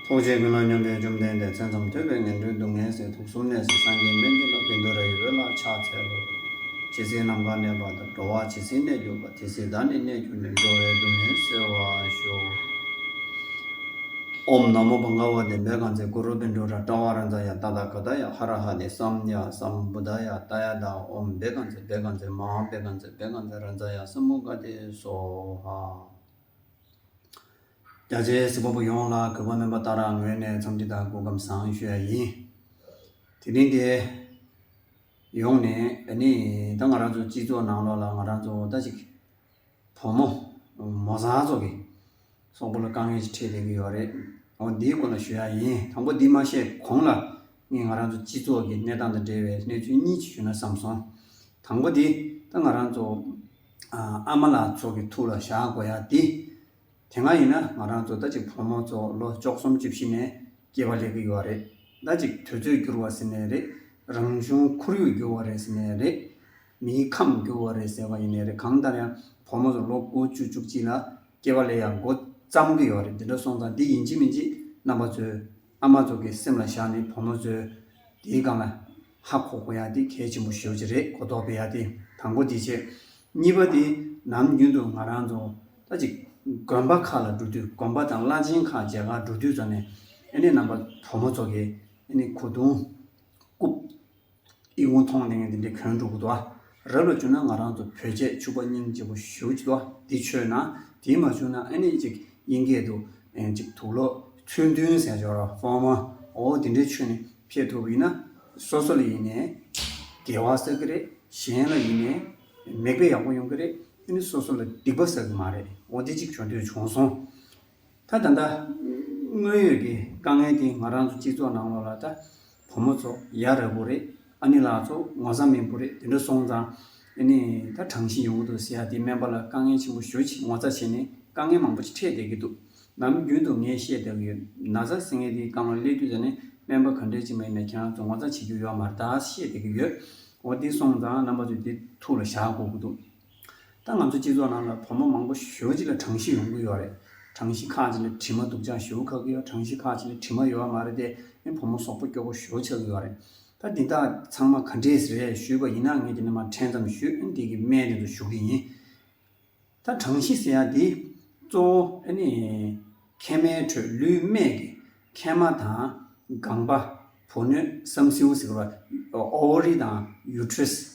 ཐུགས་རྗེས་ཀུན་སློང་སྙོམས་པའི་བཅོམ་ལྡན་འདས་མཚན་ཙམ་ཐོས་པས་ངན་འགྲོའི་སྡུག་བསྔལ་ཟད་དུག་གསུམ་གནས་སུ་སངས་རྒྱས་སྨན་གྱི་བླ་བི་མདོ་ར་ཡི་བོད་ལ་ཕྱག་འཚལ་ལོ། ཇི་སྲིད་ནམ་མཁའ་གནས་པ་དང་འགྲོ་བ་ཇི་སྲིད་གནས་གྱུར་པ་དེ་སྲིད་བདག་ནི་གནས་གྱུར་ནས་འགྲོ་བའི་སྡུག་བསྔལ་སེལ་བར་ཤོག། ཨོམ་ནམ་མོ་པ་ལྔ་བ་དེ་འབད་གང་ཚེ་གུ་རུ་བི་མདོ་ར་ཏྲ་བ་ར་འཛ་ཡ་ཏ་ད་ཀ་ད་ཡ་ཧ་ར་ཧ་དེ་སམ་ཡ་སམ་བུ་ད་ཡ་ཏ་ཡ་ད་ཨོམ་འབད་གང་ཚེ་འབད་གང་ཚེ་མ་ཧཱ་འབད་གང་ཚེ་འབད་གང་ཚེ་ར་འཛ་ཡ་སམ་བུ་ག་དེ་སོ་ཧ། རྒྱ་ཆེའི་གཟིགས་པ་པོ་ཡོངས་ལ་གུས་པ་སྨོན་པ་ལྟར་རང་ངོས་ནས་འཚམས་འདྲི་དང་སྐུ་ཁམས་བཟང་ཞུ་ཡ་ཡིན། དེ་རིང་འདིར་ཡོང་ནས་ད་ནི་ད་ང་རང་ཚོའི་སྤྱི་ཚོགས་ནང་ལོགས་ལ་ང་རང་ཚོ་ད་ཅིག་བུ་མོ་མོ་བཟང་ཚོ་གི་སོག་པོ་ལ་དཀའ་ངལ་ཞིག་འཕྲད་བསྡད་ཀྱི་ཡོད་རེད། འོ་འདིའི་སྐོར་ལ་ཞུ་ཡ་ཡིན་དང་པོ་འདི་མ་བཤད་གོང་ལ་ངས་ང་རང་ཚོའི་སྤྱི་ཚོགས་ཀྱི་གནས་སྟངས་དང་འབྲེལ་བའི་གནས་ཚུལ་གཉིས་ཅིག་ཞུ་ན་བསམ་སོང། དང་པོ་དེ་ད་ང་རང་ཚོ། ཨ་མ་ལགས་ཚོ་གི་ཐུགས་ལ་བཞག་དགོས་ཡ་དེ། དེ་སྔ་ཡིན་ན་ང་རང་ཚོ་ཟླ་གཅིག་ཕོ་མོ་ཚོ་ལོ་བཅོ་གསུམ་བཅུ་བཞི་ནས་སྐྱེས་པ་ལས་གི་ཡོད་རེད་ཟླ་གཅིག་དུས་ཚོད་འགྱུར་བ་ཟེར་ནས་རེད་རང་བྱུང་ཁོར་ཡུག་འགྱུར་བ་རེད་ཟེར་ནས་རེད། མིའི་ཁམས་འགྱུར་བ་རེད་ཟེར་བ་ཡིན་ནས་རེད་གང་ལྟར་ཡང་ཕོ་མོ་ཚོ་ལོ་དགུ་བཅུ་བཅུ་གཅིག་ལ་སྐྱེས་པ་ལས་ཡག་མགོ་བརྩམ་གི་ཡོད་རེད་འདི་འདྲ་སོང་ཙང་འདི་ཡིན་གཅིག་མིན་གཅིག་རྣམ་པ་ཚོའི། ཨ་མ་ཚོ་གི་སེམས་ལ་བཞག་ནས་བུ་མོ་ཚོས་དེའི་སྒང་ལ་ཧ་གོ་གོ་ཡག་དེ་གལ་ཆེན་པོ་ཤོས་ཅིག་རེད་གོ་རྟོགས་པའི་ཡག་དེ་དང་པོ་དེ་བྱེད། གཉིས་པ་དེ་ནམ་རྒྱུན་དུ་ང་རང་ཚོ་ད་ཅིག་དགོན་པ་ཁག་ལ་འགྲོ་དུས་དགོན་པ་དང་བླ་ཆེན་ཁག་མཇལ་ཁར་འགྲོ་དུས་ཚོ་ནས་ཨ་ནེ་རྣམ་པ་བུ་མོ་ཚོ་གི་ཨ་ནེ་གོ་དུང་རྐུབ། ཨི་ཝུན་ཐོང་ལིང་འདི་འདྲའི་གོན་འགྲོ་གི་འདུག་ཨ་རབ་ལ་བྱུང་ན་ང་རང་ཚོ་བོད་རྗེས་ཕྱུག་པ་སྙིང་རྗེ་པོ་ཞུ་གི་འདུག་འདི་ཆོས་ན་དེ་མ་བྱུང་ན་ཨ་ནི་ཅིག་དབྱིན་སྐད་དུ་ཅིག་དུག་ལོ་ཚུལ་མཐུན་ཟས་སྦྱོར་དབང་མོ་ཨོ་འདི་འདྲའི་ཆོས་ནི་ཕེབས་ཐུབ་ཡིན་ན་སོ་སོ་ལ་ཡིན་ནས་དགེ་བ་བསགས་ཀྱི་རེད་གཞན་ལ་ཡིན་ནས་མིག་དཔེ་ཡག་པོ་ཡོང་གི་རེད་འདི་ནི་སོ་སོ་ལ་སྡིག་པ་བསགས་ཀྱི་མ་རེད་ཨོ་འདི་ཅིག་བྱུང་དུས་བྱུང་སོང། ད་ད་ལྟ་དངོས་ཡོད་ཀྱི་དཀའ་ངལ་དེ་ང་རང་ཚོ་སྤྱི་ཚོགས་ནང་ལོགས་ལ་ད་བུ་མོ་ཚོ་ཡ་རབས་པོ་རེད་ཨ་ནེ་ལགས་ཚོ་ངོ་ཚ་མེད་པོ་རེད་དེ་འདྲ་སོང་ཙང་ཨེ་ནས་ད་དྲང་བཞིན་ཡོང་གི་འདུག་ཟེར་ཡ་དེ་སྨན་པ་ལ་དཀའ་ངལ་ཆེན་པོ་ཞུ་ཆེད་ངོ་ཚ་བྱེད་ནས་དཀའ་ངལ་མང་པོ་ཆེ་འཕྲད་བསྡད་ཀྱི་འདུག་ནམ་རྒྱུན་དུ་ངས་བཤད་བསྡད་ཀྱི་ཡོད་ན་ཚ་ཟེར་མཁན་དེའི་དཀའ་ངལ་སླེབས་རྒྱུ་དེ་ནི་སྨན་པ་ག་འདྲས་ཅིག་མ་ཡིན་ན་ཁྱེད་རང་ཚོ་ངོ་ཚ་བྱེད་རྒྱུ་ཡོད་མ་རེད་ད་བཤད་བསྡད་ཀྱི་ཡོད་འོ་དེ་སོང་ཙང་རྣམ་པ་ཚོས་དེ་ཐུགས་ལ་བཞག་དགོས་ཀྱི་འདུག། ད་ང་ཚོའི་སྤྱི་ཚོགས་ནང་ལ་བུ་མོ་མང་པོ་ཞོལ་གཅིག་ལ་གྲངས་གཞི་ཡོང་གི་ཡོད་རེད། གྲངས་གཞི་ཁག་གཅིག་ལ་དྲི་མ་འདུག་ཅང་ཞོལ་ཁག་གི་གྲངས་གཞི་ཁག་གཅིག་ལ་དྲི་མ་ཡོད་བ་མ་རེད་དེ་ནི་བུ་མོ་སོག་པོ་སྐྱོ་པོ་ཞོལ་ཆགས་ཀྱི་ཡོད་རེད། ད་འདི་དག་ཚང་མ་ག་འདྲས་རེད་ཞུས་པ་ཡིན་ན་ངས་དེ་ནས་མ་དྲན་ཙམ་ཞུས་ཨེ་འདི་གི་སྨད་དེ་ཚོ་ཞུ་གི་ཡིན། ད་གྲངས་གཞི་ཟེར་ཡག་འདི་གཙོ་བོ་ཨེ་ནི། མཁལ་མའི་ཁྲོད་ལུས་སྨད་ཀྱི་མཁལ་མ་དང། སྒང་པ། བུ་སྣོད་སམ་སེའུ་ཟེར་བ། Ovary། དང Uterus།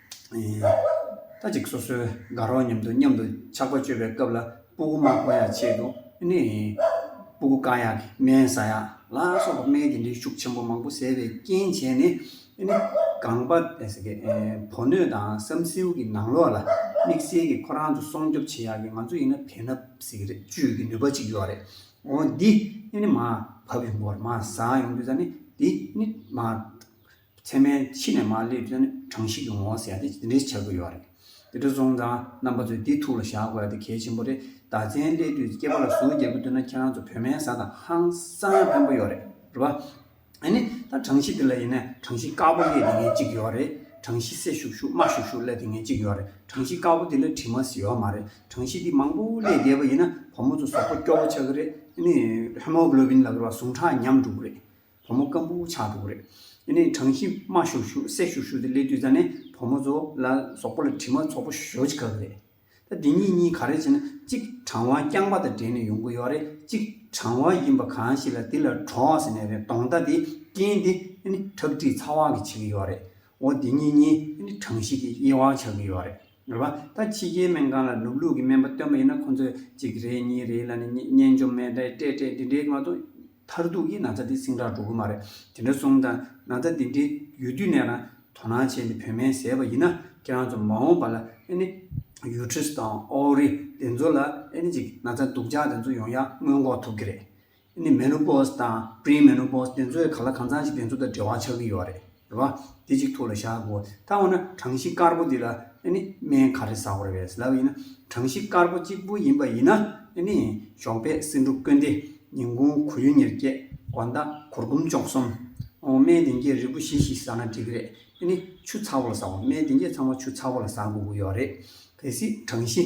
ལྟ་ཅིག་སོ་སོའི་དགའ་རོགས་མཉམ་དུ་མཉམ་དུ་ཆགས་པ་སྤྱོད་པའི་སྐབས་ལ་སྤུ་གུ་མ་གོ་ཡ་བྱེད་དོ། ནི། སྤུ་གུ་བཀག་ཡ། སྨན་ཟ་ཡ། ལ་སོགས་པ་སྨན་གྱི་འདྲེ་ཤུགས་ཆེན་པོ་མང་པོ་ཟས་པའི་རྐྱེན་བྱས་ནས། ནི། གང་བ། ཕོ་སྣོད་དང་བསམ་སེའུ་གི་ནང་ལོགས་ལ། དམིགས་བསལ་གྱི་ཁོ་རང་ཚོ་སྲོང་སྐྱོབ་བྱེད་ཡ་གི་ང་ཚོ་ཡིན་ན་བས་ན། བཅོས་ཀྱི་ནུས་པ་ཅིག་ཡོད་རེད། འོ་འདི། ནི་མ། བབས་ཡོང་གོ་རེ་མ་ཟ་ཡོང་དུས་ད་ནི། འདི། ནི། མ། མཚན་མའི་ཕྱི་ནས་མ་སླེབས་ཚེ་ནི་གྲངས་གཞི་གི་ངོ་བོ་ཟད་དེ་འདི་འདྲའི་བྱ་དགོས་ཡོད་རེད། དེ་འདྲ་སོང་ཙང་རྣམ་པ་ཚོས་འདི་ཐུགས་ལ་བཞག་དགོས་དེ་གལ་ཆེན་པོ་རེད་ད་མཚན་སླེབས་དུས་སྐྱེས་པ་ལ་ཟུར་བརྒྱད་པོ་བསྡུ་ན་ཁྱེད་རང་ཚོ་བོད་མའི་བཟའ་དང་ཧང་སང་ཡང་ཕན་པོ་ཡོད་རེད་རེད་བ། ཨ་ནི་ད་གྲངས་གཞི་འདི་ལ་ཡིན་ན་གྲངས་གཞི་དཀར་པོ་སླེ་དེ་ངན་ཅིག་ཡོད་རེད་གྲངས་གཞི་སེར་ཤུག་ཤུག་དམར་ཤུག་ཤུག་སླེ་དེ་ངན་ཅིག་ཡོད་རེད་གྲངས་གཞི་དཀར་པོ་འདི་ལ་དྲི་མ་ཟི་ཡོད་མ་རེད་གྲངས་གཞི་འདི་མང་པོ་སླེ་བསྡད་པ་ཡིན་ན་བུ་མོ་ཚོ་ཟོག་པོ་སྐྱོ་བོ་ཆགས་ཀྱི་རེད་ཨ་ནི Hemoglobin ལ་ཟུངས་ཁྲག་ཉམས་འགྲོ་གི་རེད་བུ་མོ་སྐམ་པོ་བོ་ཆགས་འགྲོ་གི་རེད། དེ་ནས་གྲང་ཤིང་རྨ་ཤུར་ཤུར་བསྲེགས་ཤུར་ཤུར་དེ་སླེ་དུས་ད་ནས་བུ་མོ་ཚོ་ལ་ཟོག་པོ་ལ་དྲི་མ་ཚོགས་པོ་ཞོ་ཅི་ག་གི་རེད། ད་འདི་གཉིས་གཉིས་ག་རེ་བྱས་ན་གཅིག་གྲང་བ་རྐྱང་པ་དང་འབྲེལ་ནས་ཡོང་གི་ཡོད་རེད་གཅིག་གྲང་བ་ཡིན་པ་གང་ཞིག་ལ་དེ་ལ་གྲོགས་ཟེར་ནས་རེད་དོང་རྟ་དེ་རྐྱེན་དེ་ཁྲག་དྲི་ཚ་བ་གི་བྱེད་ཀྱི་ཡོད་རེད་འོ་འདི་གཉིས་གཉིས་གྲང་ཤིང་གི་དབྱེ་བ་ཆགས་ཀྱི་ཡོད་རེད། རེད་བ། ད་ཕྱི་རྒྱལ་སྨན་ཁང་ལ་ནུབ་ལུགས་ཀྱི་སྨན་པ་སྟོན་པ་ཡིན་ན་ཁོང་ཚོས་གཅིག་རེད་གཉིས་རེད་ལ་ནི་སྙན་འཇོམས་སྨན་སྤྲད་སྤྲད་སྤྲད་འདི་འདྲའི་ང་ཚོ་མཐར་ཐུག་གི་ན་ཚ་འདི་སིང་དྲག་འགྲོ་གི་མ་རེད་དེ་འདྲ་གསུངས་དང་ན་ཚ་འདི་འདྲའི་ཡོད་དུས་ནས་རང་དོ་སྣང་བྱས་ནས་བོད་སྨན་བཟས་པ་ཡིན་ན་ཁྱེད་རང་ཚོ་མ་འོངས་པ་ལ་ཨེ་ནི་ཡུལ་ཁྲིས་དང་ཨོ་རི་དེ་ཚོ་ལ་ཨེ་ནི་ཅིག་ན་ཚ་སྡུག་ཅག་དེ་ཚོ་ཡོང་ཡག་སྔོན་འགོག་ཐུབ་གི་རེད། ནི་མེ་ནོ་པོས་དང Pre Menopause དེ་ཚོའི་ག་ལ་གང་ཚང་ཞིག་དེ་ཚོ་དང་འབྲེལ་བ་ཆགས་ཀྱི་ཡོད་རེད་རེད་བ། དེ་གཅིག་ཐུགས་ལ་བཞག་དགོས། ད་འོ་ན་གྲངས་གཞི་དཀར་པོ་འདི་ལ་ནི་སྨན་ག་རེ་ཟ་དགོས་རེད་ཟེར་ལབ་ཡིན་ན་གྲངས་གཞི་དཀར་པོ་གཅིག་པུ་ཡིན་པ་ཡིན་ན་ནི་ཞོགས་པའི་སེ་འབྲུ་བསྐོལ་འདི་ཉིན་གུང་གོ་ཡུ་ཉེར་བརྒྱད་དགོ་ཟླ་གུར་གུམ་བཅོ་གསུམ། འོ་སྨན་བདེ་འགྱེད་རིལ་བུ་བཞི་ཞིག་ཟ་ན་འགྲིག་གི་རེད་ནི་ཆུ་ཚ་བོ་ལ་ཟ་དགོས་སྨན་བདེ་འགྱེད་ཚང་མ་ཆུ་ཚ་བོ་ལ་ཟ་དགོས་ཀྱི་ཡོད་རེད། གལ་སྲིད་གྲངས་གཞི།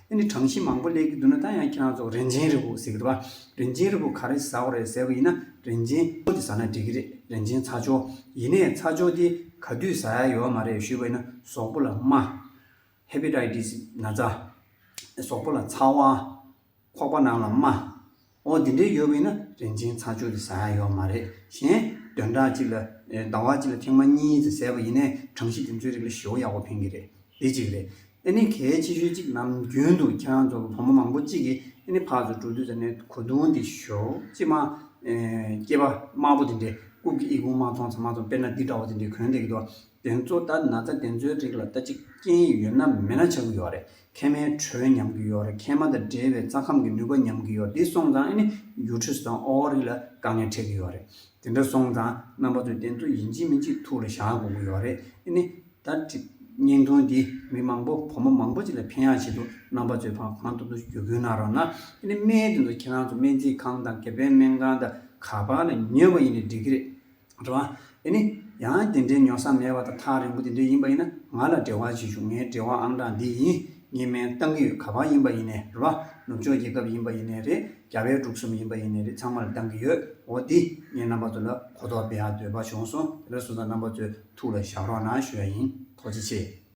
འདི་ནི་གྲངས་གཞི་མང་པོ་ལས་ཀྱི་བསྡུ་ན་ད་ཡང་ཁྱེད་རང་ཚོ་རིན་ཆེན་རི་བོ་ཟེར་གི་འདུག་ག་རིན་ཆེན་རི་བོ་ག་རེ་ཟ་འོ་རེད་ཟེར་བ་ཡིན་ན་རིན་ཆེན་ལྕོག་དེ་ཟ་ན་འགྲིག་གི་རེད་རིན་ཆེན་ཚྭ་ལྕོག་ཡིན་ནས་ཚྭ་ལྕོག་དེ་ག་དུས་ཟ་ཡ་ཡོད་མ་རེད་ཞུས་པ་ཡིན་ན་ཟོག་པོ་ལ་རྨ། Hepatitis། ན་ཚ། ཟོག་པོ་ལ་ཚ་བ། ཁོག་པ་རྣམས་ལ་རྨ། ཨོ་འདི་འདྲའི་ཡོད་པ་ཡིན་ན་རིན་ཆེན་ཚ་ཆུ་དེ་ཟ་ཡ་ཡོད་མ་རེད་གཞན། བདུན་ཕྲག་གཅིག་ལ་ཟླ་བ་གཅིག་ལ་ཐེངས་མ་གཉིས་དེ་ཟས་པ་ཡིན་ནས་གྲངས་གཞི་དེ་ཚོའི་རིགས་ལ་བཞི་བོ་ཡག་པོ་ཕན་གྱི་རེད་འདི་གཅིག་རེད། ཨེ་ནི་གལ་ཆེ་ཤོས་གཅིག་ནམ་རྒྱུན་དུ་ཁྱེད་རང་ཚོ་གི་བུ་མོ་མང་པོ་གཅིག་གིས་ཨེ་ནི་ཕག་ཚོ་དྲུག་དུས་ཟ་ནས་གོ་དུང་དེ་ཞོ་གཅིག་མ། སྐྱེས་པ་དམར་པོ་དེ་འདྲས་རྐུབ་ཀྱི་ཨི་ཁུང་མ་ཐོང་ཚ་མ་ཐོང་དཔེར་ན་འདི་འདྲ་བོ་དེ་འདྲས་གོན་བསྡད་ཀྱི་འདུག་དེ་ཚོ་ལྟ་ན་ད་དེ་ཚོའི་རིགས་ལ་ལྟ་ཅི་སྐྱེན་ཡོད་ན་མེད་ན་ཆགས་ཀྱི་ཡོད་རེད་མཁལ་མའི་དྲོད་ཉམས་ཀྱི་ཡོད་རེད་མཁལ་མ་དང་འབྲེལ་བའི་རྩ་ཁམས་ཀྱི་ནུས་པ་ཉམས་ཀྱི་ཡོད་རེད་འདི་སོང་ཙང་ཨ་ནི uterus དང ovary ལ་དཀའ་ངལ་འཕྲད་ཀྱི་ཡོད་རེད་དེ་འདྲ་སོང་ཙང་རྣམ་པ་ཚོས་དེ་ཚོ་ཡིན་གཅིག་མིན་གཅིག་ཐུགས་ལ་བཞག་དགོས་ཀྱི་ཡོད་རེད་ཨ་ནི། ད་ཀྲིག། བརྙན་ཐུང་འདིས་མི་མང་པོ་བུ་མོ་མང་པོ་ཅིག་ལ་ཕན་ཡག་བྱེད་འདུག་རྣམ་པ་ཚོས་ཕངས་ཕངས་སྟུག་སྟུག་གྱོ་གུན་གནང་རོགས་གནང་ཨ་ནི་སྨན་དེ་ཚོ་ཁྱེད་རང་ཚོ་སྨན་རྩིས་ཁང་དང་སྒེར་པའི་སྨན་ཁང་དང་ག་པར་ལ་ཉོས་པ་ཡིན་ནས་འགྲིག་གི་རེད། འགྲོ་བ། དེ་ནི། ཡང་དེ་འདྲའི་མྱོང་ས་མེད་པ་དང་ཐག་རིང་པོ་དེ་འདྲས་ཡིན་པ་ཡིན་ན་ང་ལ་འབྲེལ་བ་བྱེད་ཞུ་ངའི་འབྲེལ་བ་ཨང་གྲངས་འདི་ཡིན། ངས་སྨན་བཏང་གི་ཡོད་ག་པར་ཡིན་པ་ཡིན་ནའི་རེད་བ། ནུབ་ཕྱོགས་རྒྱལ་ཁབ་ཡིན་པ་ཡིན་ནའི་རེད་རྒྱ་བལ་འབྲུག་གསུམ་ཡིན་པ་ཡིན་ནའི་རེད་ཚང་མར་བཏང་གི་ཡོད་འོ་དེ་ངས་རྣམ་པ་ཚོ་ལ་གོ་རྟོགས་སྤེལ་ཡག་འདོད་པ་བྱུང་སོང་དེ་ལ་སོང་ཙང་རྣམ་པ་ཚོའི་ཐུགས་ལ་བཞག་རོགས་གནང་ཞུ་ཡག་ཡིན། ཐུགས་རྗེ་ཆེ།